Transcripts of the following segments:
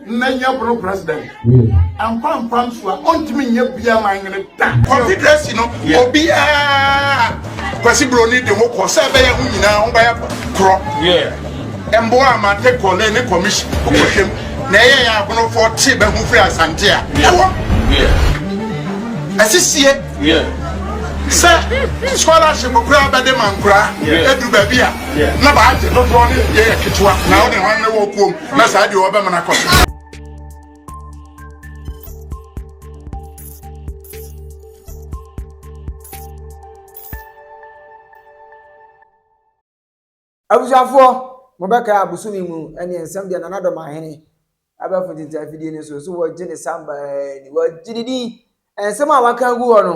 na yɛ boro president mpa mpa nso a ɔntumi nyɛ bia ma nwene da confederacy no obiara kwasi buroni de ho kɔ sɛ ɛbɛyɛ ho nyinaa ho bɛyɛ korɔ mboa ama te kɔle ne commission ɔkɔhwɛm na ɛyɛ yɛ abonofoɔ te bɛho firi asante a ɛwɔ asisie sɛ scholarship koraa bɛde ma nkoraa ɛduru baabi a na baagye dodoɔ ne yɛyɛ ketewa na wode hɔ ne wɔ kuom na saa deɛ ɔbɛma no akɔ so abusuafoɔ mobɛkae abosome mu ɛne nsɛm deɛ nana dɔm ahene abɛfo tete afidie no so so wɔgye ne samba ni wɔgye ne din nsɛm a waka gu hɔ no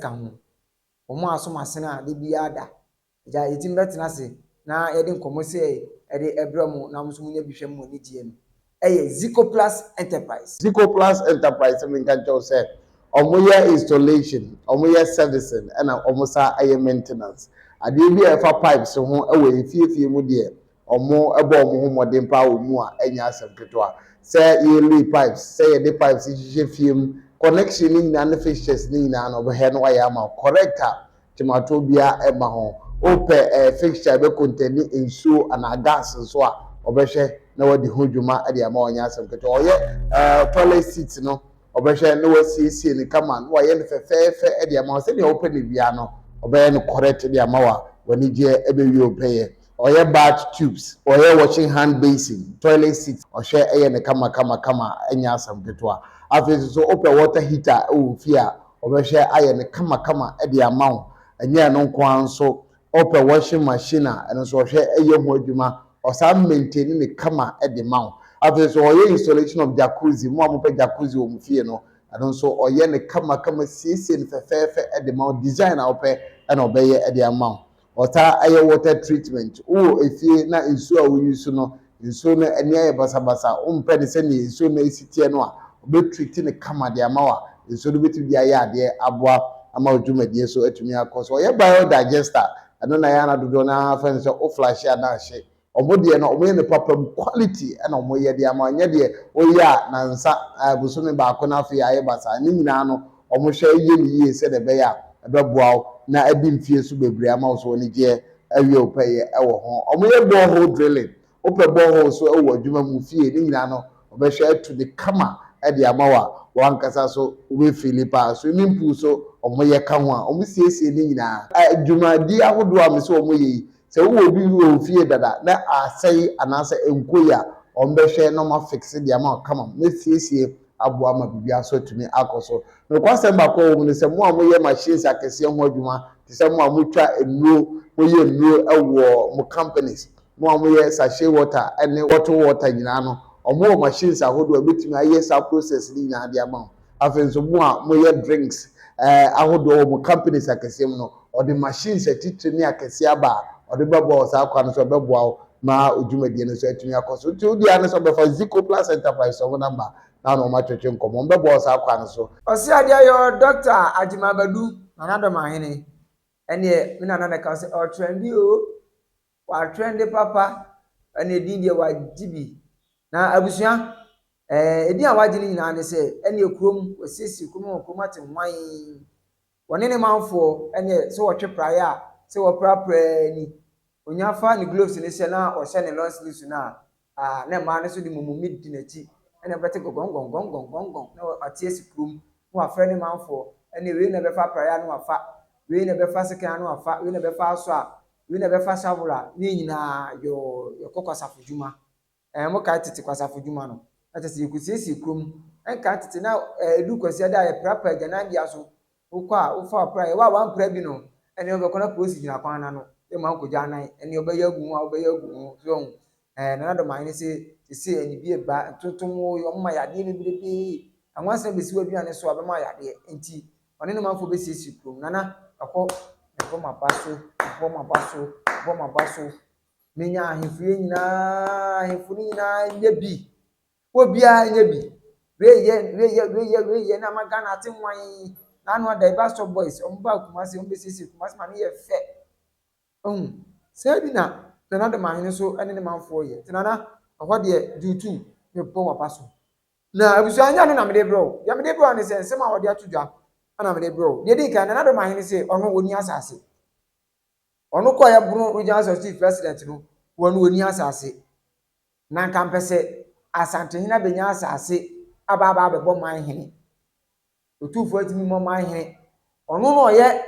ka ho. Wɔn a wɔsom asene a da biara da, agya, yɛtumi bɛtena ase na yɛde nkɔmmɔ sei de brɛ mo na mo nso monya bi hwɛ mo anigyeɛ no yɛ Zicoplus Enterprise. Zicoplus Enterprise, menka nkyerɛ wo sɛ, wɔyɛ installation, wɔyɛ servicing ɛna wɔsan yɛ maintenance. Adeɛ bi a ɛfa pipes ho wɔ efie fie mu deɛ, wɔbɔ wɔn ho mmɔden paa wɔ mu a, ɛnyɛ asɛm ketewa. Sɛ yɛlay pipes, sɛ yɛde pipes hyehyɛ fie mu, connection no nyinaa ne fixtures no nyinaa no, hwɛ na wɔayɛ ama wo correct a, twematoɔ biara mma ho. Wopɛ fixture a ɛbɛkontɛni nsuo anaa gas nso a, wɔbɛhwɛ na wɔadi ho dwuma de ama wo, ɛnyɛ asɛm ketewa. Wɔyɛ toilet seat no, wɔbɛhwɛ na wɔasiesie no kama, na wɔayɛ no fɛfɛɛfɛ de ama wo. Sɛdeɛ wopɛ no biara no, wɔbɛyɛ no correct de ama wo a, w'anigyeɛ bɛwie wo pɛyɛ. Ɔyɛ bath tubes, ɔyɛ washing hand basin, toilet seat, ɔhwɛ yɛ no kama kama kama ɛnyɛ asɛm ketewa. Afei nso so wopɛ water heater wɔ wo fie a, ɔbɛhwɛ ayɛ no kama kama de ama wo. Ɛnyɛ ɛno nko ara nso, wopɛ washing machine a, ɛno nso ɔhwɛ yɛ ho adwuma, ɔsan maintain no kama de ma wo. Afei nso ɔyɛ installation of jacuzzi, mo a mopɛ jacuzzi wɔ mo fie no, ɛno nso ɔyɛ no kama kama siesie no fɛfɛɛfɛ de ma wo, design a wopɛ na ɔbɛyɛ de ama wo. Ɔtaa yɛ water treatment. Wowɔ efie na nsuo a wo use no, nsuo no ani ayɛ basabasa, wo mpɛ no sɛdeɛ nsuo no ɛsi teɛ no a, ɔbɛ treat no kama de ama wo a, nsuo no bɛtumi de ayɛ adeɛ aboa ama wo dwumadie so atumi akɔ so. Ɔyɛ bio-digester, ɛno na ɛyɛ a na dodoɔ no ara fɛ no sɛ wo flush a na ahye. Ɔmo deɛ no ɔmo yɛ no papa mu quality ɛna ɔmo yɛ de ama nyɛ deɛ woyɛ a nansa ɛɛ bosome baako na afei ayɛ basaa ne nyinaa no ɔmo hwɛ yɛ no yie sɛdeɛ ɛbɛyɛ a ɛbɛboa wo na adi mfie so bebree ama wo so anigyeɛ awie wo pɛyɛ ɛwɔ ho. Ɔmo yɛ bore hole drilling wopɛ bore hole nso ɛwɔ adwuma mu fie ne nyinaa no ɔbɛhwɛ atu de kama ɛde ama wo a wankasa so wobɛ feeli paa. Swimming pool nso ɔmo yɛ ka ho a ɔmo siesie ne nyinaa. Dwumadie ahodoɔ a mese ɔmo yɛ yi Sɛ wowɔ obi bi wɔ wo fie dada na asɛe anaasɛ ɛnkɔ yie a, wɔn bɛhwɛ na wɔn afixe de ama wo kamam na asiesie aboa ma biribiara nso atumi akɔ so. Nokwasɛm baako a ɛwɔ mu ne sɛ, mo a moyɛ machines akɛseɛ ho adwuma, te sɛ mo a motwa nnuro, moyɛ nnuro wɔ mo companies, mo a moyɛ sachet water ne bottle water nyinaa no, wɔwɔ machines ahodoɔ a ɛbɛtumi ayɛ saa process no nyinaa de ama wo. Afei nso mo a moyɛ drinks ahodoɔ wɔ mo companies akɛseɛ mu no, ɔde machines atitire ne akɛseɛ aba a ɔde bɛboa wɔ saa kwan no so, ɛbɛboa wo ma wo dwumadie no nso atumi akɔ so. Nti wo deɛ ara ne sɛ wobɛfa Zico Plus Enterprises wɔn number na wo ne wɔn atwetwe nkɔmmɔ. Wɔbɛboa wo saa kwan no so. Ɔse adeɛ yɔ Doctor Agyemah Badu, Nana Dɔmahene, ɛneɛ me Nana na ɛka wo sɛ ɔtrɛnde oo. W'atwɛnde papa na edin deɛ w'agye bi na abusua ɛɛ edin a w'agye no nyinaa ne sɛ ɛneɛ kurom w'asiesie kurom wɔ kurom ate hwan wɔne ne manfoɔ ɛneɛ sɛ wɔtwe praeɛ a sɛ wɔpra praa ni onya fa ne gloves no hyɛ na ɔhyɛ ne long sleeves no a Ah, na mmaa no nso de mummummiri di n'akyi. Ɛnna wobɛte gɔgɔngɔngɔngɔngɔngɔng, na wate asi kurom, na wafrɛ ne manfoɔ, Ɛnneɛ wei na ɛbɛfa apraeɛ a, na wafa, wei na ɛbɛfa sekan a, na wafa, wei na ɛbɛfa asɔ a, wei na ɛbɛfa shovel a, ne nyinaa, yɔɔ, yɛkɔ kwasafo dwuma. Ɛɛ, mokae tete kwasafo dwuma no? Na kyerɛ sɛ yɛkɔsiesie kurom. Ɛnkaa tete, na ɛɛ, ɛduru Kwasiada a, yɛpra pa agyananbea so, Wokɔ a, wofa ɔpra. Yɛwɔ a woampra bi no, ɛneɛ wobɛkɔ na polisi gyina kwan no ano ma woakɔgya anan. Ɛneɛ wobɛyɛ agu ho a, wobɛyɛ agu ho. So woahu? Ɛɛ, Nana Domae ne se, sesei anibie reba, ntontom oo, wɔn ma yadeɛ bebrebe. Nwansena bɛsi w'aduane so a, ɔbɛma wo yadeɛ. Enti, ɔne ne manfoɔ bɛsiesie kurom. Nana, ɛhɔ, mebɔ m'aba so, mebɔ m'aba so, mebɔ m'aba so, menya ahemfie nyinaa, ahemfo no nyinaa nyɛ bi. Obiara nyɛ bi. Wei yɛ wei yɛ wei yɛ wei yɛ na ama Ghana ate nwann. N'ano ada yi Bastɔ Boys wɔn baa Kumasi wɔn bɛsiesie Kumasi ma no yɛ fɛ. Wahu? Saa bi na Nana Ado Mahene nso ne ne manfoɔ yɛ. Nti Nana ɛhɔ deɛ do two mebɔ w'aba so. Na abusua ɛnyɛ ɛno na mede rebrɛ wo. Deɛ mede rebrɛ wo ne sɛ nsɛm a wɔde ato dwa na mede rebrɛ wo. Deɛ ɛdi kan Nana Ado Mahene se ɔno ɔnni asase. Ɔno kɔeɛ Bono Regional Executive President no ɔno ɔnni asase. Na anka mpɛ sɛ Asantehene abɛnya asase aba aba abɛbɔ man hene. Otumfoɔ ntumi mmɔ man hene. Ɔno na ɔyɛ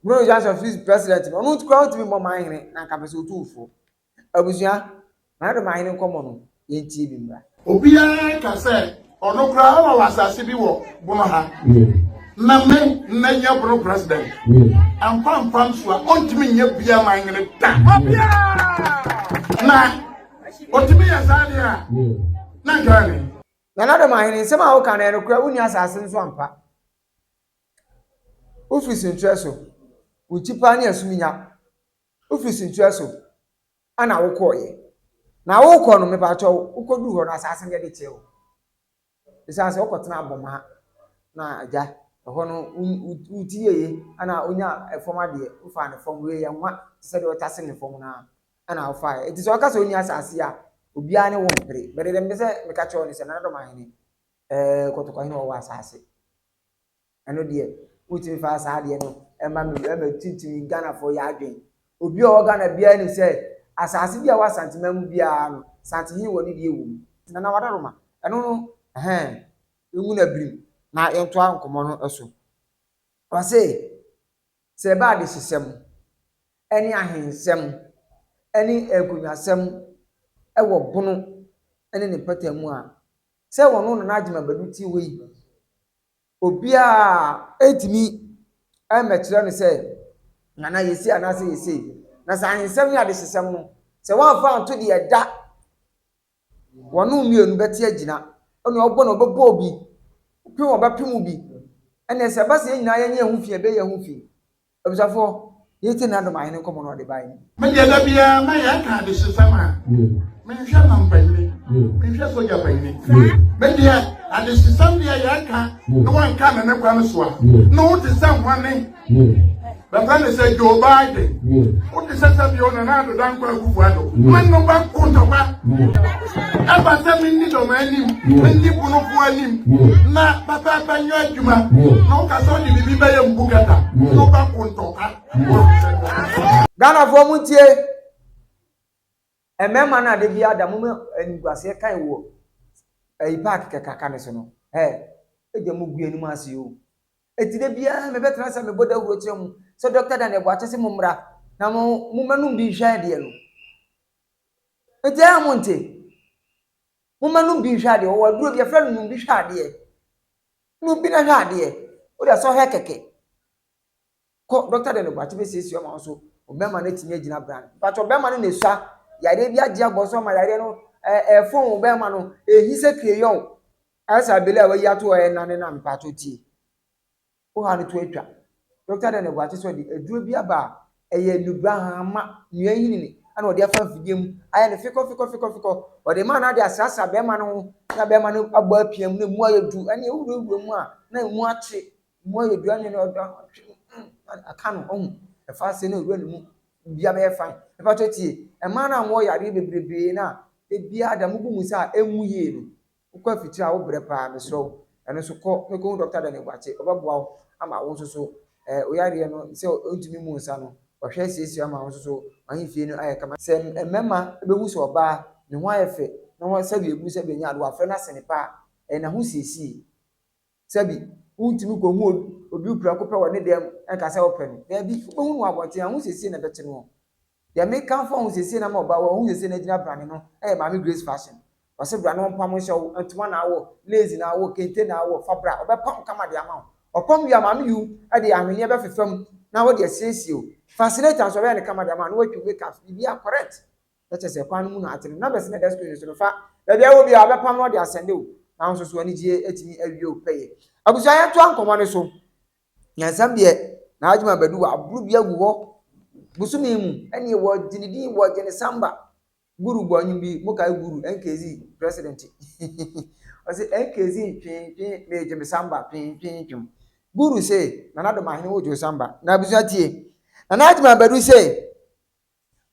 Bureau Joint of Peace President no, ɔno nti koraa ɔntumi mmɔ man hene, na anka mpɛ sɛ otumfoɔ. Abusua, Maradoma hene nkɔmmɔ no, yɛntie bi mmra. Obiara ka sɛ Ɔno koraa ɔma wɔ asase bi wɔ bono ha. Na me na nyɛ bono president. Ampa mpa nso a ɔntumi nyɛ bia man nyere da. Na ɔtumi yɛ saa deɛ a na nkaa ne. Nana Doma ahene nsɛm a woka no ɛno koraa wonni asase nso ampa. Wofiri senkyerɛ so. Wo nkyi paa ne asum nya. Wofiri senkyerɛ so. Ana wokɔeɛ? Na worekɔ no mepakyɛ wo, wokɔduru hɔ no asaase no yɛde kyɛɛ wo? Ɛsiane sɛ wokɔtenaa Abɔmaa na agya, ɛhɔ no wo ti yɛye ɛna wonyaa fam adeɛ, wofaa ne fam, wei yɛ nwa te sɛ deɛ wɔtase ne fam no ara ɛna wofaeɛ. Enti sɛ ɔka sɛ ɔnni asaase yi a, obiara ne wo mpere. But deɛ mepɛ sɛ meka kyerɛ wo ne sɛ, Nana Dɔmahene, ɛɛ Kɔtɔkɔhene ɔwɔ asaase. Ɛno deɛ motumi fa saa adeɛ no ɛma me ɛma tintimi Ghanafoɔ yɛ adwen. Obi a ɔwɔ Ghana biara nim sɛ asaase bi a ɛwɔ Asanteman mu biara no Santehene wɔ ne deɛ wɔ mu. Nana Wadaroma, ɛno no ɛhɛn ngu na birim na yɛntoa nkɔmmɔ no so. Ɔse sɛ ɛba adehyesɛm ɛne ahensɛm ɛne nkonnwasɛm ɛwɔ Bono ɛne ne mpata mu a, sɛ wɔn Nana Agyeman Badu te hɔ yi, Obiara rentumi mmɛkyerɛ no sɛ Nana yɛ sei anaasɛ yɛ sei. Na sɛ ahensɛm ne adehyesɛm no, sɛ wɔamfa anto deɛ ɛda wɔn mmienu bɛte agyina. Onua ɔbɔ na ɔbɛbɔ obi, opem ɔbɛpem obi. Ɛnneɛ sɛ ɛba sɛ yɛn nyinaa yɛnyɛ yɛn ho fi a, ɛbɛyɛ yɛn ho fi. Abusuafoɔ, yei te Nado Mahene nkɔmmɔ no a ɔde baeɛ no bi. Me deɛ da biara mɛyɛ aka adehyesɛm a menhwɛ mampanyini, menhwɛ sogya panyini. Me deɛ adehyesɛm deɛ yɛ aka na wanka ne ne kwan so a, na wo te sɛ hwane? Bɛfrɛ ne sɛ Joe Biden, wo te sɛ sɛ bio Nana Addo Dankwa Akufo Addo, mɛnoba kontɔba. Ɛba sɛ menni dɔm anim, menni bonofo anim, na pɛpɛɛpɛ nyɛ adwuma, na woka sɛ wode biribi bɛyɛ mbu kɛta, na wobɛko ntɔkwa. Ghanafoɔ mo ntie, mmarima no ade bi ada mo ma animguaseɛ kan wɔ ɛyi paaki kɛkaka ne so no, ɛ, ɛgya mo gu anim ase o. Ɛti da biara mebɛtena sɛ mebɔ dawuro kyerɛ mo sɛ Dɔkta Daniel Boakye se mo mmra na mo, mo mmɛnom bi nhwɛ adeɛ no. Enti ɛyɛ a monte? Momma no bi nhwɛ adeɛ. Wɔwɔ aduro bi, yɛfrɛ no nom bi hwɛ adeɛ. Nom bi na hwɛ adeɛ. Wode asɛ ɔhwɛ kɛkɛ. Kɔ dɔkta dɛ no bate bɛsiesie ɔma wo so ɔbɛrima no atumi agyina bra. Mpakyɛ ɔbɛrima no na ɛsua yareɛ bi agye abɔ so ama yareɛ no ɛfɔn wo bɛrima no ɛhi sɛ kreyɔn. Ayɛ sɛ abele a wayi ato hɔ ɛnane no a mpakyɛ tie. Oha no to atwa. Dɔkta Daniel Boakye nso de aduro bi aba a ɛyɛ nnubra hahama nnua nyinini na ɔde afa mfidie mu ayɛ no fekɔfekɔfekɔfekɔ. Ɔde maa no ara de asrasra barima no ho na barima no abɔ apiam na emu ayɛ duru ɛne ewurawura mu a na emu akye emu ayɛ duru ɛne no ɔda mm aka no ɔhu ɛfa ase na ewura ne mu bia bɛyɛ fine. Mepatɔ tie mmaa no a wɔwɔ yareɛ bebrebee no a ebiara da mo bu mu saa a emu yie no Wokɔ afikyire a wobrɛ paa mesrɛ wo ɛno nso kɔ na kɔhu Doctor Daniel Boakye ɔbɛboa wo ama wo nso so ɛɛ wo yareɛ no sɛ wontumi mmu nsa no wahwɛ asiesie wo ama wo nso so w'ahemfie no ayɛ kama. Sɛ mmarima bɛhu sɛ ɔbaa ne ho ayɛ fɛ na wɔn sɛdeɛ ɛgu sɛdeɛ ɛnyɛ adeɛ wafrɛ no asene paa ɛyɛ n'ahosiesie. Sɛbi, wontumi kohu obi wo prɛko pɛ wɔ ne dan mu na ka sɛ wopɛ no. Daabi, wobɛhu no wɔ abɔnten. Ahosiesie na ɛbɛte noɔ. Deɛ mekamfo ahosiesie no ama ɔbaa wɔ ahosiesie no agyina brane no yɛ Maame Grace Fashion. Ɔse bra na ɔmpam nhyɛ wo, ntoma na awɔ, lace na awɔ, kente na awɔ, fa bra, ɔbɛpam wo kama de ama wo. Ɔpam wie a, Maame Yu de ahweneɛ bɛfefa mu na ɔde asiesie wo. Fascinator nso, ɔbɛyɛ no kama de ama wo na watwam make-ups, biribiara correct. na kyerɛ sɛ kwan no mu na ate no. Ná bɛsɛn ɛda sukuu no so no fa baabi a ɛwɔ biara, wɔbɛpam na wɔde asɛnde wo. Nanso, so anigye atumi awie wo pɛyɛ? Abusua, yɛntoa nkɔmmɔ no so. Nyansam deɛ, n'adwene a bɛde wɔaboro bi agu hɔ bosome mu. Ɛnneɛ wɔgye ne din, wɔgye ne samba. Guru bɔ nnwom bi, mokae Guru, NKZ president? Ɔse, NKZ ntwentwen, megye me samba twentwentwem. Guru se, Nana Domahene wogye wo samba. Na abusua tie. Nana Adjuma Badu se,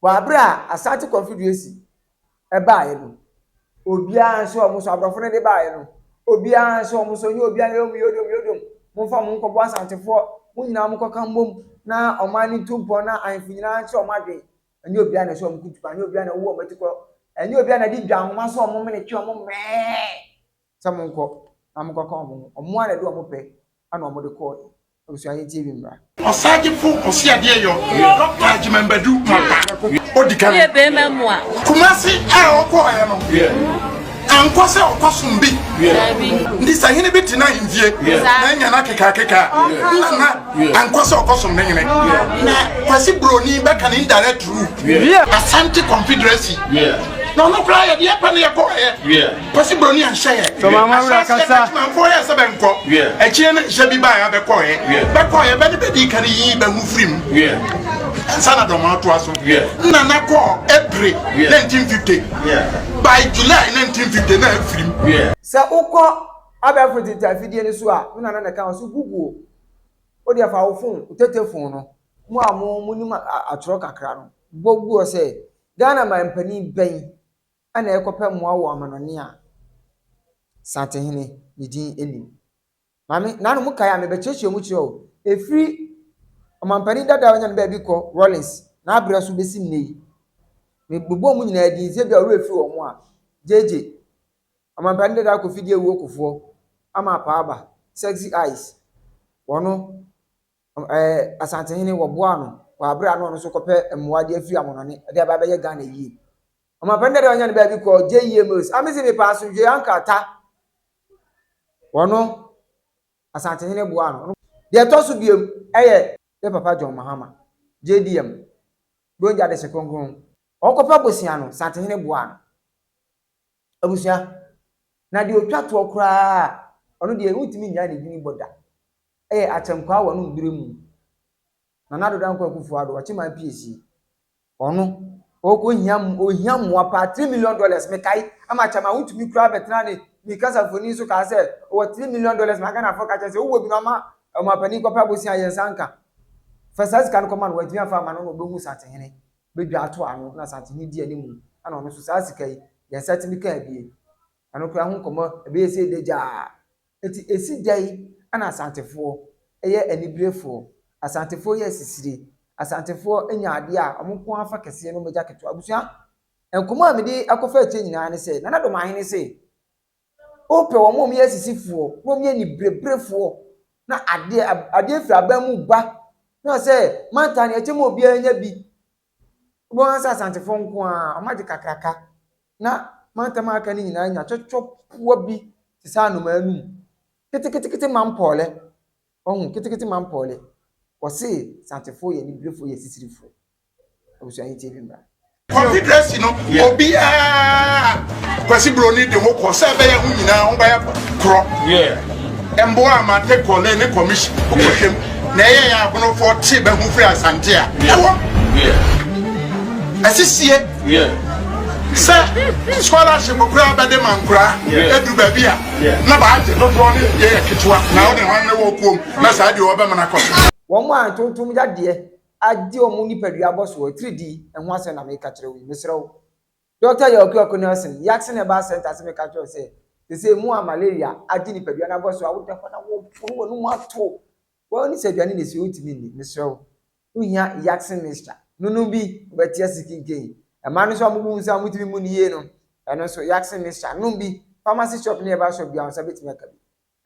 Wɔ aberɛ a Asante Konfiduasi baaɛ no, obiara nso ɔmo nso abrɔfo no de baaɛ no, obiara nso ɔmo nso ɔnye obiara yɛ ɔmo yodom yodom, monfa ɔmo nkɔboa Asantefoɔ, mo nyinaa mo kɔka mmom na ɔman no ntu mpɔn na ahenfo nyinaa nkyerɛ ɔmo adwen, ɛnyɛ obiara na ɛsɛ ɔmo ko tu paa, ɛnyɛ obiara na ɛwɔ ɔmo atikɔ, ɛnyɛ obiara na ɛde dwa nhoma sɛ ɔmo mene twe ɔmo mmɛɛ sɛ monkɔ na mo kɔka ɔmo ho, ɔmo ara na ɛde ɔmo pɛ na ɔmo de kɔɔɛ. Abusua Nyikyie bi mmra. Ɔsagyefo Ɔseadeɛyɔ Dɔkta Agyemang Badu Mata, odi kan. Kumasi a ɔkɔɔɛ no, ankɔ sɛ ɔkɔsom bi, nti sɛ hene bi te n'ahemfie na anya no akekaakeka a, nna na ankɔ sɛ ɔkɔsom ne hene. Na Kwasi Broni bɛka no indirect rule. Asante Confederacy, na ɔno koraa yɛdeɛ pɛ na yɛkɔɔɛ. Kwasi Broni anhyɛ yɛ. Tɔ maama wura Ahyɛaseɛ no kasa. adwumanfoɔ yɛɛ sɛ bɛnkɔ. Yeah. Akyire no nhyɛ bi baeɛ a bɛkɔeɛ. Yeah. Bɛkɔeɛ bɛ ne bɛdii ka no yii bɛ ho firi mu. Yeah. Ansa na Dormaa toa so. Yeah. Nna na kɔɔ April Yeah. 1950. Yeah. By July 1950 na afiri mu. Yeah. Sɛ wokɔ abɛɛfo ntete afidie no so a, me nana na ɛka ho so Google. Wo deɛ fa wo fon, wo tetefon no, mo a mo monim a- a- atwerɛ kakra no, bɔ Google sɛ Ghana man panin bɛn Ana ɛrekɔpɛ mmoa wɔ amanɔne a Santehene ne din nnim? Maame, nanom mo kae a, mebɛkyerɛkyerɛ mu kyerɛ wo. Ɛfiri Ɔmampanin dada a ɔnya ne baabi kɔ, Rawlings, n'aberɛ so bɛsi nnɛ yi, mebobɔ wɔn nyinaa din, sɛ ebia wo werɛ firi wɔn a, JJ, Ɔmampanin dada Kofi Diawuo Kofoɔ, Ama Apaaba, Sexy Eyes, wɔno, Ɛɛ, Asantehene, wɔboaa no wɔ bere a na ɔno nso rekɔpɛ mmoa de afiri amannɔne de aba abɛyɛ Ghana yie. Ɔmampanin dada a ɔnya ne baabi kɔɔ JEA Mills. A mese mepɛ asomdwoe anka ta. Ɔno, Asantehene boaa no. Deɛ ɛtɔ so biom yɛ yɛn papa John Mahama, JDM, Dwonja Adese Kronkron. Ɔrekɔpɛ bosea no, Santehene boaa no. Abusua, na deɛ ɔtwa toɔ koraa a, ɔno deɛ wontumi nnyae ne dini bɔ da, ɛyɛ Akyɛnkwaa wɔ ne mberɛ mu, Nana Addo Dankwa Akuffo Addo, ɔkye man piesie, ɔno, ɔɔkɔ hia, ɔhia mmoa paa, three million dollars, mekae, ama Akyɛmaa wontumi koraa bɛtenaa ne, ne kasa mfonin so kaa sɛ, ɔwɔ three million dollars, na Ghanafoɔ ka kyerɛ sɛ, wowɔ bi no ama ɔmanpanin kɔpɛ abosea a yɛn nsa nka, fa saa sika no kɔma no, wantumi amfa amma no na ɔbɛhu Satsehene. bɛdwa ato ano na Asante no di anim no na ɔno nso saa sika yi yɛn nsa tumi ka abie. Ɛno koraa ho nkɔmmɔ ɛbɛyɛ sei dɛ gyaa. Enti ɛsi dɛn na Asantefoɔ yɛ aniberefoɔ? Asantefoɔ yɛ asisire. Asantefoɔ nya adeɛ a wɔn nko ara fa kɛseɛ na wɔagya ketewa. Abusua, nkɔmmɔ a mede akɔfa akyire nyinaa ne sɛ, Nana Domaahene se, Wopɛ wɔn a wɔyɛ asisifoɔ, na wɔyɛ anibereberefoɔ, na adeɛ adeɛ firi aban mu ba, na sɛ manta no ɛkyɛ ma obiara nya bi. Wobɛhu sɛ asantefoɔ nko ara, wɔagye kakraka, na mantam a aka no nyinaa anya twɔtwɔpoa bi te sɛ anomaa anum, ketekete mampɔɔlɛ. Wahu ketekete man pɔɔle. Wɔse Santefoɔ yɛ aniberefoɔ yɛ asisirifoɔ. Abusua Yi TV mmra. Confederacy no obiara Kwasi Broni de ho kɔ sɛ ɛbɛyɛ ho nyinaa ho bɛyɛ korɔ ɛmboa ama take kɔ ne ne commission wokɔhwɛm na ɛyɛ yɛ abonofoɔ te bɛho firi Asante a ɛwɔ asisie Yeah. Sɛ scholarship koraa bɛde ma nkoraa ɛduru baabi a na baagye dodoɔ ne yɛyɛ ketewa na wode hwan ne wɔ kuom na saa deɛ wɔbɛma no akɔ so. Wɔn a ntontom yadeɛ agye wɔn nipadua abɔ soɔ atiridii ho asɛm na meka kyerɛ wo yi. Mesrɛ wo. Dɔkta Yaw Kwiako Nelson, Yaksen Herbal Centre se meka kyerɛ wo sɛ, seesei mu a malaria agye nipadua no abɔ soɔ a wode hɔ na woaforo w'anom ato Well ne sɛ aduane na ɛsi wontumi nni, mesrɛ wo wohia Yaxin mixture, nonom bi wobɛte ase kinkei. Mmaa no nso a mobu wo nsa a motumi mmu no yie no, ɛno nso Yaxin mixture nom bi, pharmacy shop ne herbal shop biara wo nsa bɛtumi aka bi.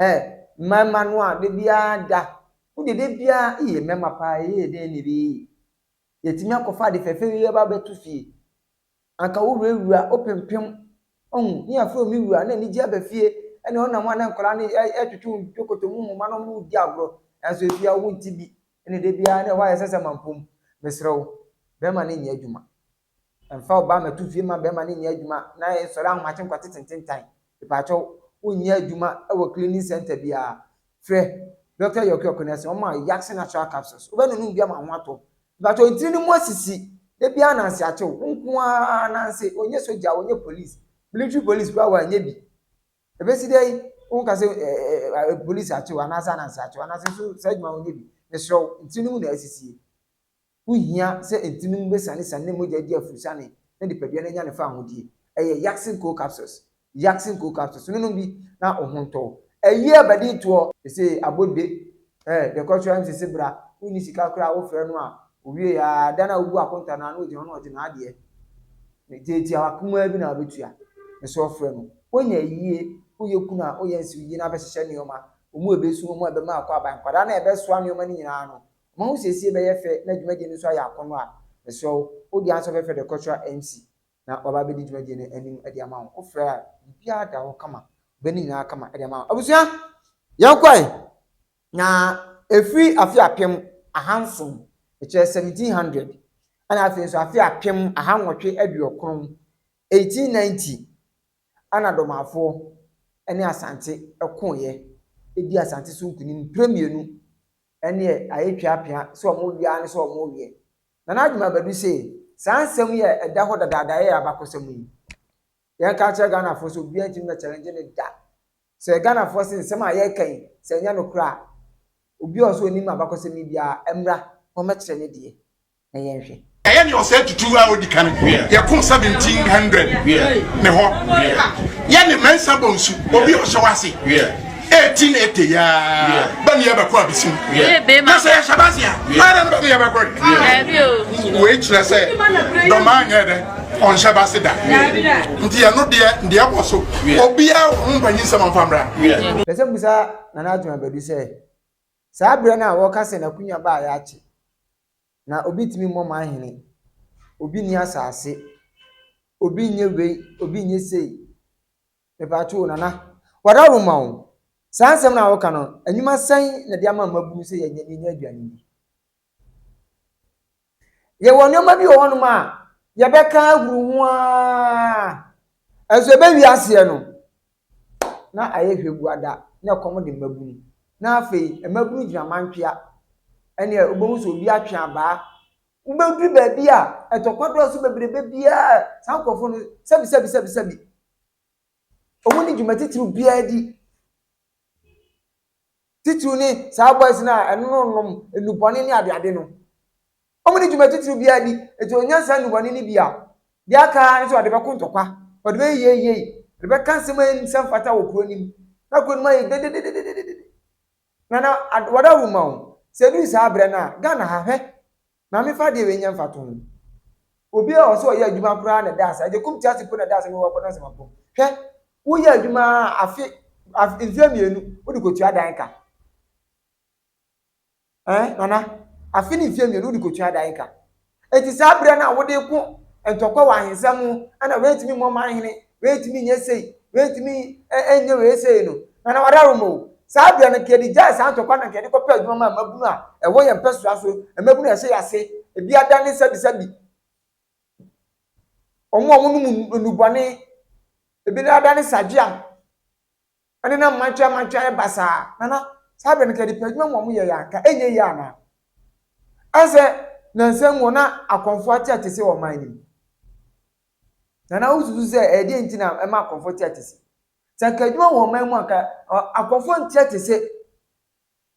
Hɛ, mmaa mma no a da biara da, wodeɛ da biara, eii mmarima paa ɛyɛ yɛ dɛn na ɛbɛyɛ yie? Yɛatumi akɔfa ade fɛfɛ wei aba abɛto fie. Anka wo wura wura wo pempem ohu ne yɛ frɛ wo me wura na anigye aba fie ɛne ɔnam hɔ a na nkwadaa no ɛtwetwe wo dwokoto mu nhoma nom ne wo di agorɔ nanso ɛfie a wo nte bi ɛne da biara na ɛhɔ ayɛ sɛsɛ mampom mesrɛ wo bɛrima no nyɛ adwuma ɛmfa ɔbaa mɛto fie ma bɛrima no nyɛ adwuma na ɛnsɔre ahomakye nkwate tententan mepakyɛw wo nyɛ adwuma ɛwɔ cleaning center biara frɛ Doctor Yorke Okonese ɔma Yaxin natural capsules wo bɛ nonom bi ama wo ho atɔ Mpatsɔ ntsir no mu asisi da biara nanse atsew wo nko ara nanse ɔnnyɛ sogya ɔnnyɛ police military police koraa wɔannyɛ bi ebesi dɛ yi wo nka sɛ ɛɛ police atsew anaase ananse atsew ananse so saa edwuma wɔnnyɛ bi mesrɛ wo ntsir no mu na asisie wo hia sɛ ntsir no mu besiane siane ne mogya di afurusane na nipadua no anya ne faahodie ɛyɛ Yaxin cold capsules Yaxin cold capsules no nom bi na wo ho ntɔ wo. Ayi abadi toɔ. Ese abodwe eh deɛ kɔ sra msisi bra wo nni sika koraa a wo frɛ no a owie aa da no a wo bu akonta no a na ogyina hɔ na ɔgye n'adeɛ me tiatiawa kumaa bi na wo bɛtua me so ɔfrɛ no wonya ayie wo yɛ kunu a wo yɛ nse wo yie no abɛhyehyɛ nneɛma wɔn a ɛbɛsu wɔn a ɛbɛma akɔ aban nkwadaa no a ɛbɛsoa nneɛma no nyinaa no wɔn ahosiesie bɛyɛ fɛ na dwumadie no nso ayɛ akɔnnɔ a mesrɛ wo wo deɛ ansɔ fɛfɛ deɛ kɔ sra mc na waba abɛdi dwumadie no anim de ama wo. Wofrɛ a, biribiara da hɔ kama. Wobɛyɛ ne nyinaa kama de ama wo. Abusua, yɛkɔe, na ɛfiri afe apem ahanson, mekyerɛ 1700, ɛna afei nso afe apem ahannwɔtwe aduokron, 1890, ɛna Domafoɔ ne Asante koeɛ dii Asante so nkunim mprɛ mmienu. Ɛnneɛ ayɛ twa apea sɛ wɔn wia ne sɛ wɔn weɛ. Nana Adwuma Badu se saa nsɛm yi a ɛda hɔ dadaada yɛ abakɔsɛm yi, yɛnka nkyerɛ Ghanafoɔ sɛ obiara ntumi mɛ challenge no da. Sɛ Ghanafoɔ se nsɛm a yɛreka yi sɛ ɛnyɛ nokorɛ a, obi a ɔwɔ sɛ ɔnim abakɔsɛm yi biara mmra na ɔmmɛkyerɛ ne deɛ na yɛnhwɛ. Ɛyɛ nea ɔsɛe tutuw a odi kan yɛ ko seventeen hundred ne hɔ. Yɛ ne mɛnsa bɔ nsu, obi a ɔhyɛ wo ase. 18 ete ya ba ni abako abisim na sɛ yɛhyɛ base a ara no bɛde yɛbɛkɔ wei kyerɛ sɛ dɔma anyɛ dɛ ɔnhyɛ base da nti ɛno deɛ deɛ ɛwɔ so obiara wɔ ho mpanyin sɛm amfa mmra pɛ sɛ musa nana adwuma badu sɛ saa berɛ no a wɔka sɛ n'akonya baa yɛ akye na obi tumi mmɔ ma ahene obi ni asase obi nyɛ wei obi nyɛ sei Mepakyɛw o, Nana, wada wo mma o, saa nsɛm no a woka no, nnwuma sɛn na ɛde ama mmabunu sɛ yɛnyɛ yɛnyɛ aduane nni? Yɛwɔ nneɛma bi wɔ hɔnom a yɛbɛka ahuru ho ara, nso ɛbɛwie aseɛ no, na ayɛ hwɛguada, na ɛkɔm de mmabunu. Na afei, mmabunu gyina mantwea. Ɛnneɛ wobɛhu sɛ obi atwe abaa. Wobɛduru baabi a ɛtɔkwa dɔɔso bebrebe biara, saa nkurɔfoɔ no, sɛbi sɛbi sɛbi sɛbi, Wɔnni dwuma titiriw biara di. Titiriw ne saa boys no a ɛnonom nnubɔne ne adeade no. Wɔnni dwuma titiriw biara di. Enti wɔnya saa nnubɔne no bi a, deɛ aka ara ne sɛ wɔde bɛko ntɔkwa, wɔde bɛyɛ yieyei, wɔde bɛka nsɛm a ɛnsɛ mfata wɔ kuro no mu. Na kuro no mu ayɛ dedededede. Nana, wɔda wo ma o. Sɛ ɛduru saa berɛ no a, Ghana ha, hwɛ! Na me fa deɛ wei nyɛ mfato ho. Obi a ɔse ɔyɛ adwuma koraa na ɛda ase, Agyekum tease mpo na ɛda ase na wowɔ kɔdansɛm apɔ. Hwɛ, woyɛ adwuma ara a afe, afe, mfeɛ mmienu wode kɔtua dan ka. Ɛɛ, Nana, afe ne mfeɛ mmienu wode kɔtua dan ka. Enti saa berɛ no a wode ko ntɔkwa wɔ ahensɛm ho na woantumi mmɔ man hene W'entumi nyɛ sei, w'entumi nyɛ wei sei no, na na ɔdaworo ma o. Saa bea no, nka yɛde gyae saa ntɔkwa no, nka yɛde kɔpɛ adwuma maa mmabunu a ɛwɔ yɛn mpɛsoa so, mmabunu a ɛhyɛ yɛn ase, ebi ada ne sabisabi, wɔn a wɔnom nnubɔne, ebi nan ada ne sadweam. Ɛnde na mmadweammadwe ayɛ basaa, na na saa bere no nka nnipa adwuma mu a wɔyɛe a anka ɛnyɛ yiye anaa? Ɛne sɛ, nnansa yi mu hɔ na akɔmfo ate atese wɔ ɔman no mu. Na na wosusuw sɛ ɛyɛ dɛn nti na ɛma akɔmfo te atese? Sɛ anka adwuma wɔ ɔman mu a anka akɔmfo nte atese.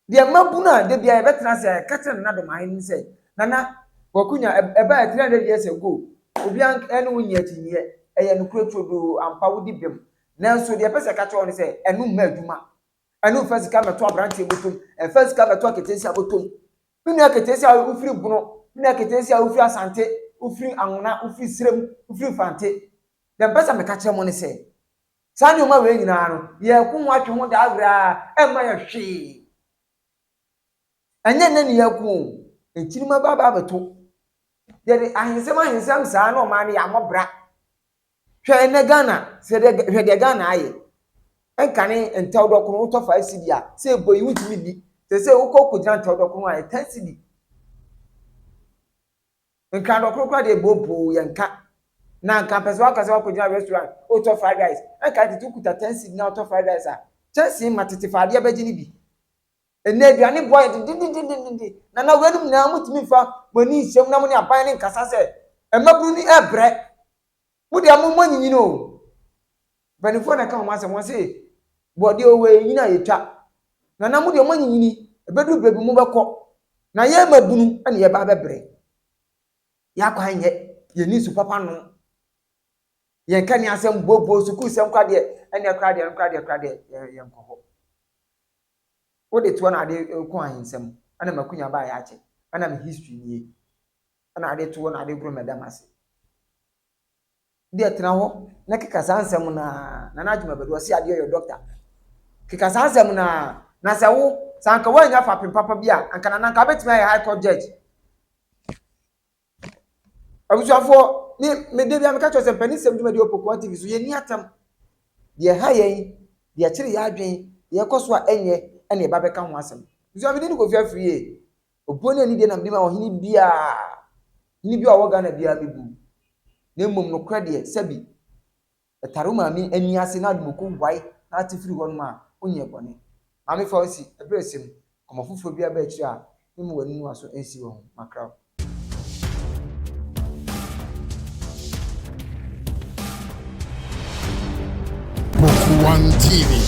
Deɛ mmabunu a da biara yɛbɛtena ase a yɛka kyerɛ Nana Domahe ne sɛ, Nana, Kwaku nya, ɛbaeɛ 300 years ago, obiara ne wo nyɛ akyinnyeɛ, ɛyɛ nokorɛ turodoo, ampa wodi bem, nanso deɛ yɛpɛ sɛ yɛka kyerɛ wo ne sɛ, ɛno mma adwuma, ɛno mfa sika mmɛto aberanteɛ bɔtɔm, ɛmfa sika mmɛto aketeesia bɔtɔm. Me nua keteesia a wofiri Bono, me nua keteesia a wofiri Asante, wofiri Anwona, wofiri Serem, wofiri Mfante, deɛ mepɛ sɛ meka kyerɛ mo ne sɛ, Saa nneɛma wei nyinaa no, yɛako ho atwe ho daa koraa ɛmma yɛ hwee. Ɛnyɛ nnɛ na yɛako o, akyiri mɛba aba abɛto. Yɛde ahensɛm ahensɛm saa na ɔman no yɛammɔ bra. Hwɛ ɛnnɛ Ghana, hwɛ deɛ, hwɛ deɛ Ghana ayɛ. Ɛnkane ntɛw dɔkono, wotɔ five cedi a, sɛ ɛbɔ yi wontumi nni. Seesei wokɔ kɔgyina ntɛw dɔkono a, ɛyɛ ten cedi. Nka dɔ korokora de bɔ boo yɛ nka na nka mpɛ sɛ waka sɛ wakɔ gyina restaurant otɔ fried rice ɛnka tete okuta ten cedi na otɔ fried rice a kyɛnsee ma tete fa adeɛ bɛgye ne bi ɛnɛ aduane boɔ ayɛ dendendendendende na na wɛnum nyinaa motumi nfa mo ani nhyɛm na mo ne aban ne nkasa sɛ ɛmabunu ni ɛbrɛ Mo deɛ mo mo anyinyini o. Mpanimfoɔ na ɛka wɔn asɛm wɔn se bɔdeɛ o wei nyini a yɛtwa. Nana mo deɛ mo anyinyini ɛbɛduru baabi mo bɛkɔ na yɛn mmabunu na yɛba abɛbrɛ. Yɛn akwan nyɛ yɛn ni nsu papa nom. Yɛn ka ni asɛm booboo sukuu sɛm kora deɛ ɛnneɛ kora deɛ ɛno kora deɛ kora deɛ yɛn nkɔ hɔ. Wode toɔ na ade ko ahensɛm ɛna makunya baa yɛ akyɛ ɛna me history nie. na ade to hɔ na ade koro mɛda m'ase. Wodeɛ tena hɔ na keka saa nsɛm no ara, Nana Agyemabadu, ɔse adeɛ ɔyɔ dɔkta, keka saa nsɛm no ara, na sɛ wo, sɛ anka woannya fapem papa bi a, anka Nana anka wobɛtumi ayɛ High Court Judge. Abusuafoɔ, me, me da biara meka kyerɛ sɛ mpanisɛm dwumadie wɔ Pokuaa TV so, yɛnni atam. Deɛ ɛha yɛn, deɛ ɛkyere yɛn adwene, deɛ ɛkɔ so a ɛnyɛ, ɛna yɛba bɛka ho asɛm. Abusua, me din de Kofi Afriyie. Obuo ne anidie na mede ma ɔhene biara, hene bi a ɔwɔ Ghana biara mɛbu. Na mmom nokorɛ deɛ, sɛbi, ɛtare wo maame ani ase na adom ɔkɔ wae na ate firi hɔnom a, wonyɛɛ bɔne. Maame fa wo nsi, ɛberɛ ɛsɛ mu, kɔma foforɔ biara ba akyire a, memma w'aninuaso nsi wɔ ho, makra wo. Poku One TV.